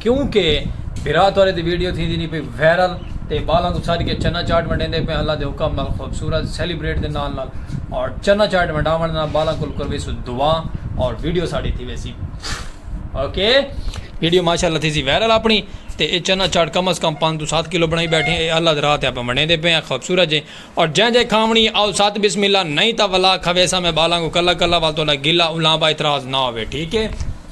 کیوں کہ بھرا تہاڈے دی ویڈیو تھیندی نی پئی وائرل تے بالاں کوں سڈ کے چنا چاٹ ونڈیندے پئے اللہ دے حکم نال خوبصورت سیلیبریٹ دے نال نال اور چنا چاٹ ونڈاونڑ دے نال بالاں کول کرویسوں دعا اور ویڈیو ساڈی تھی ویسی اوکے ویڈیو ماشاءاللہ تھیسی وائرل اپنی تے اے چنا چاٹ کم از کم پانچ توں سات کلو بنڑائی بیٹھے اے اللہ دے راہ تے اپاں ونڈیندے پئے آں خوبصورت جے اور جیں دے کھاونی آؤ ست بسم اللہ نئیں تاں ولا کھویساں میں بالاں کوں کلا کلا وال تہاڈا گلہ الاں با اعتراض نہ ہووے ٹھیک ہے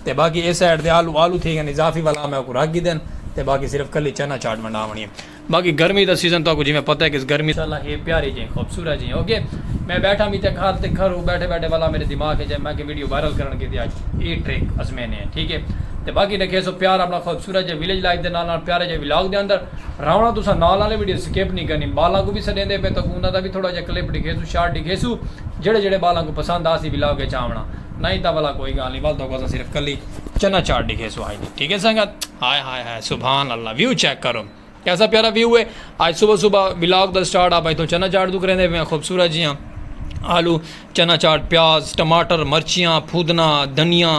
تے باقی اے سائیڈ تے آلو آلو تھی گن اضافی ولا میں اوکوں رکھ گھدن تے باقی صرف کلی چنا چاٹ ونڈاونی ہے باقی گرمی دا سیزن تہاکوں جیویں پتہ ہے کس گرمی ماشاءاللہ ہے پیاری جئیں خوبصورت جئیں اوکے میں بیٹھا میتے گھر تے گھرو بیٹھے بیٹھے ولا میرے دماغ اچ آئے میں کہ ویڈیو وائرل کرن کیتے اج اے ٹرک ازمینے ہیں ٹھیک ہے تے باقی ڈکھیسو پیار اپنا خوبصورت جئیں ویلیج لائف دے نال نال پیارے جئیں ولاگ دے اندر راونا تساں نال آلے ویڈیو سکپ نی کرنی بالاں کوں وی سڈیندے پے تاکوں انہاں دا وی تھوڑا جیہا کلپ ڈکھیسوں شارٹ ڈکھیسوں جیہڑے جیہڑے بالاں کوں پسند آسی ولاگ اچ آونڑاں نئیں تاں ولا کوئی گالھ نی ول تہاکوں اساں صرف کلی چنا چاٹ ڈکھیسوں ہائی جی ٹھیک ہے سنگت ہائے ہائے ہائے سبحان اللہ ویو چیک کرو کیسا پیارا ویو ہے آج صبح صبح ولاگ دا سٹارٹ آپ ایتھوں چنا چاٹ توں کریندے پے خوبصورت جیاں آلو چنا چاٹ پیاز ٹماٹر مرچیاں پھودنا دھنیا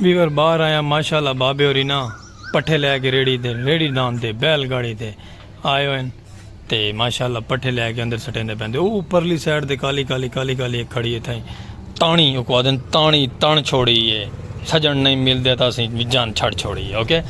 ویور باہر آیا ماشاءاللہ بابے ہوری نا پٹھے لے کے ریڑھی تے ریڑھی ڈان تے بیل گاڑی تے آئے ہوئے ہیں تے ماشاءاللہ پٹھے لے کے اندر سٹیں دے پیندے او پرلی سائیڈ تے کالی کالی کالی کالی ایک کھڑی ہے تھائی تانی او کو آدن تانی تان چھوڑی ہے سجن نہیں مل دے تا سی جان چھڑ چھوڑی ہے اوکے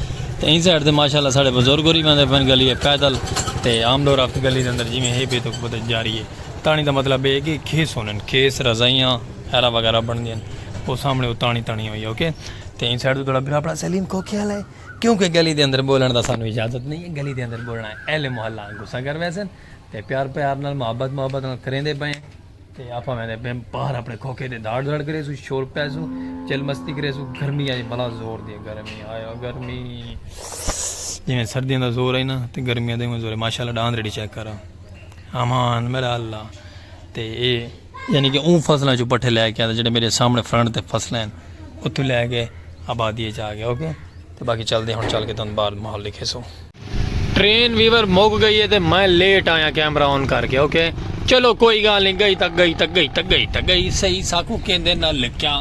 تے این سائیڈ تے ماشاءاللہ سارے بزرگ ہوری پیندے پین گلی ہے پیدل تے عام دور رفت گلی دے اندر جی میں ہے بے تو بہت جاری ہے تانی دا مطلب ہے کہ کھیس ہونے کھیس رضائیاں ایرا وغیرہ بن دین او سامنے او تانی تانی ہوئی اوکے تے این سائیڈ دوڑا بھرا پڑا سلیم کوکے والا ہے کیونکہ گلی دے اندر بولن دا سانو اجازت نہیں ہے گلی دے اندر بولنا ہے اہل محلہ گسا کر ویسن تے پیار پیار نال محبت محبت نال کریں دے پئے تے آپا میں دے بیم باہر اپنے کوکے دے دھاڑ دھاڑ کرے سو شور پہ سو چل مستی کرے سو گرمی آئی بلا زور دی گرمی آیا گرمی جی میں سردی اندر زور آئی نا تے گرمی اندر زور ہے ماشاءاللہ ڈاندری چیک کرا امان میرا اللہ تے اے یعنی کہ اوں فصلاں چوں پٹھے لے کے آندا جڑے میرے سامنے فرنٹ تے فصلیں ہیں اتھو لے کے آبادی اچ آ گیا اوکے تے باقی چل دے ہن چل کے تن باہر ماحول دکھے سو ٹرین ویور مک گئی ہے تے میں لیٹ آیا کیمرہ آن کر کے اوکے چلو کوئی گال نہیں گئی تک گئی تک گئی تک گئی تک گئی صحیح ساکو کیندے نہ لکھیاں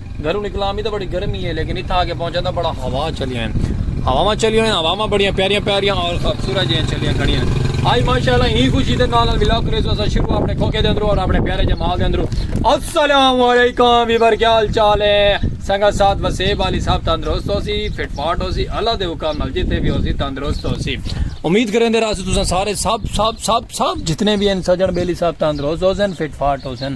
گھروں نکلاں بھی تو بڑی گرمی ہے لیکن اتھا آگے پہنچا تو بڑا ہوا چلی ہیں ہواواں چلی ہیں ہواواں بڑیاں پیاریاں پیاریاں اور خوبصورت جیاں چلیاں کھڑی ہیں آج ماشاءاللہ ہی خوشی دے نال ولاگ کریز واسا شروع اپنے کھوکے دے اندرو اور اپنے پیارے جمال دے اندرو السلام علیکم ویور کیا حال چال ہے سنگا ساتھ وسیب والی صاحب تندرست ہو سی فٹ فاٹ ہو سی اللہ دے حکم نال جتے بھی ہو سی تندرست ہو سی امید کریں دے راستے تساں سارے سب سب سب سب جتنے بھی ہیں سجن بیلی صاحب تندرست ہو سن فٹ فاٹ ہو سن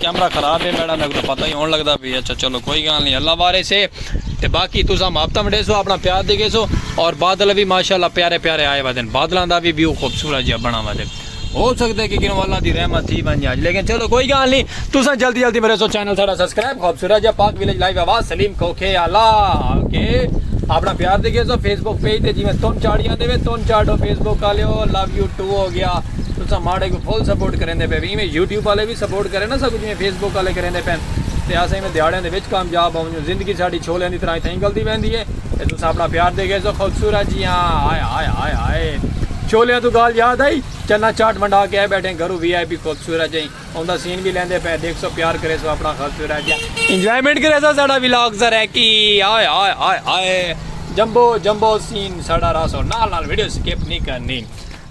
کیمرہ خراب ہے میڈا میکو پتہ ہی ہون لگدا پی اچھا چلو کوئی گال نہیں اللہ وارث ہے تے باقی تسا محبتاں ونڈے سو اپنا پیار دے گے سو اور بادل بھی ماشاءاللہ پیارے پیارے آئے ودن بادلاں دا بھی ویو خوبصورت جیا بنا ودے ہو سکدے کہ کنو اللہ دی رحمت تھی بن جائے لیکن چلو کوئی گال نہیں تسا جلدی جلدی میرے سو چینل ساڈا سبسکرائب خوبصورت جیا پاک ویلیج لائیو آواز سلیم کوکھے آلا اوکے اپنا پیار دے گے سو فیس بک پیج تے جی میں تون چاڑیاں دے میں تون چاڑو فیس بک آلیو لو یو ٹو ہو گیا تساں ماڑے کوں فل سپورٹ کریندے پئے ایویں یوٹیوب آلے وی سپورٹ کرن نا ساکوں جیویں فیس بک آلے کریندے پئن تے اساں ایویں دیہاڑیاں دے وچ کامیاب ہونجوں زندگی ساڈی چھولیاں دی طرح اتھاں نکلدی ویندی اے تے تساں اپنا پیار دے گیسو خوبصورت جیاں ہائے ہائے ہائے ہائے چھولیاں توں گالھ یاد آئی چنا چاٹ ونڈا کے آئے بیٹھے گھروں وی آئی پی خوبصورت جیاں اوندا سین وی لیندے پئے دیکھسو پیار کریسو اپنا خوبصورت جیاں انجوائمنٹ کریسو ساڈا ولاگ سرائیکی ہائے ہائے ہائے ہائے جمبو جمبو سین ساڈا راسو نال نال ویڈیو سکپ نی کرنی۔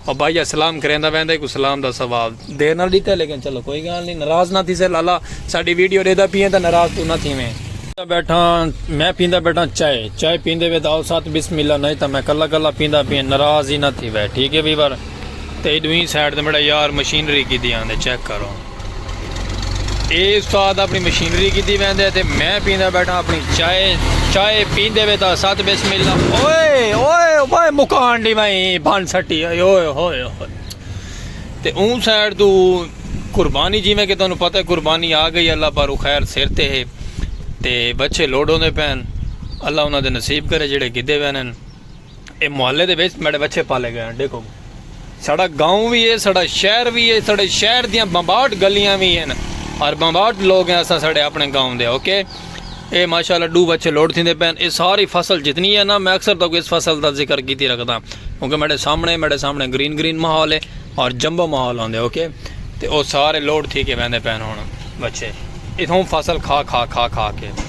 او بھائی اج سلام کریندا ویندا ہیکوں سلام دا ثواب دیر نال ڈیتا ہے لیکن چلو کوئی گال نی ناراض نہ تھیسے لالا ساڈی ویڈیو ڈیدا پیئیں تاں ناراض توں نہ تھیویں۔ پیندا بیٹھاں میں پیندا بیٹھاں چائے چائے پیندے وے تاں آؤ ساتھ بسم اللہ نئیں تاں میں کلا کلا پیندا پیئیں ناراض ہی نہ تھیوے ٹھیک ہے ویور تے ڈوہیں سائیڈ تے میڈا یار مشینری کیتی آندے چیک کرو۔ اے استاد اپنی مشینری کی دی ویندے تے میں پیندہ بیٹھا اپنی چائے چائے پیندے وے تا ساتھ بسم اللہ اوئے اوئے اوئے مکان دی میں بھان سٹی اوئے اوئے اوئے اوئے تے اون سائڈ تو قربانی جی میں کہ تنہوں پتہ ہے قربانی آ گئی اللہ پارو خیر سر تے ہے تے بچے لوڈوں دے پین اللہ انہوں دے نصیب کرے جڑے گدے وینن اے محلے دے وچ میڈے وچھے پالے گئے ہن ڈیکھو ساڑا گاؤں وی ہے ساڑا شہر وی ہے ساڑے شہر دیاں بمباٹ گلیاں وی ہیں اور بمباٹ لوگ ہیں اساں ساڑے اپنے گاؤں دے اوکے اے ماشاءاللہ ڈو وچھے لوڈ تھیندے پین اے ساری فصل جتنی ہے نا میں اکثر تک اس فصل دا ذکر کیتی رکھدا کیونکہ میرے سامنے میرے سامنے گرین گرین ماحول ہے اور جمبو ماحول ہوندے اوکے تے او سارے لوڈ تھی کے ویندے پین ہن بچے اتھوں فصل کھا کھا کھا کھا کے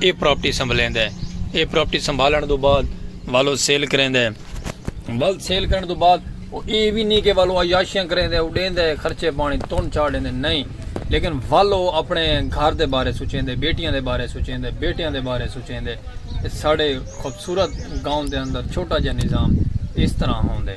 اے پراپرٹی سنبھلیندے۔ اے پراپرٹی سنبھالنڑ توں بعد والو سیل کریندے۔ ول سیل کرنڑ توں بعد او اے وی نی کہ ول او عیاشیاں کریندے او ڈیندے خرچے پانڑی تون چا ڈیندے نئیں لیکن ول او اپنڑے گھر دے بارے سوچیندے بیٹیاں دے بارے سوچیندے بیٹیاں دے بارے سوچیندے تے ساڈے خوبصورت گاؤں دے اندر چھوٹا جیہا نظام اس طرح ہوندے۔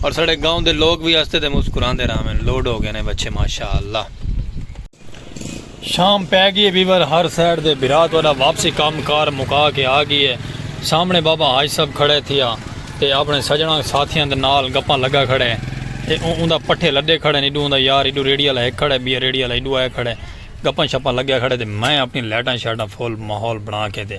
اور ساڑے گاؤں دے لوگ بھی ہستے تے مسکران دے رہا میں لوڈ ہو گئے نے بچے ماشاءاللہ شام پہ گئی ہے بیور ہر سیڈ دے برات والا واپسی کام کار مکا کے آ گئی ہے سامنے بابا حاج صاحب کھڑے تھی آ تے اپنے سجنہ ساتھیاں دے نال گپاں لگا کھڑے تے اون دا پٹھے لڈے کھڑے نیڈو اون دا یار ایڈو ریڈی والا ایک کھڑے بیا ریڈی والا ایڈو آئے کھڑے گپاں شپاں لگا کھڑے تے میں اپنی لیٹاں شیٹاں فول ماحول بنا کے تے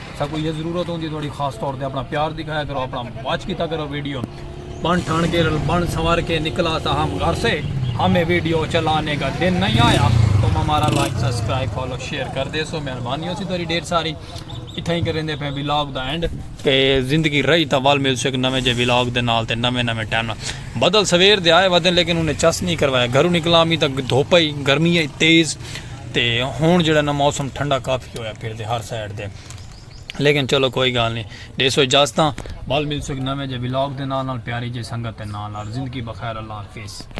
ساکو یہ ضرورت ہوندی تھوڑی خاص طور تے اپنا پیار دکھایا کرو اپنا واچ کیتا کرو ویڈیو بن ٹھان کے بن سنوار کے نکلا تھا ہم گھر سے ہمیں ویڈیو چلانے کا دن نہیں آیا تم ہمارا لائک سبسکرائب فالو شیئر کر دے سو مہربانی ہو سی تھوڑی ڈیر ساری اتھا ہی کریں دے پہ ویلاگ دا اینڈ تے زندگی رہی تا وال مل سک نویں جے ویلاگ دے نال تے نویں نویں ٹائم بدل سویر دے آئے ودن لیکن انہیں چس نہیں کروایا گھروں نکلا ہمیں تا دھوپا ہی گرمی ہے تیز تے ہن جیڑا نا موسم ٹھنڈا کافی ہویا پھر دے ہر سائیڈ دے لیکن چلو کوئی گال نہیں دیسو اجازتاں بال ملسو ایک نویں جے ولاگ دے نال نال پیاری جے سنگت دے نال نال زندگی بخیر اللہ حافظ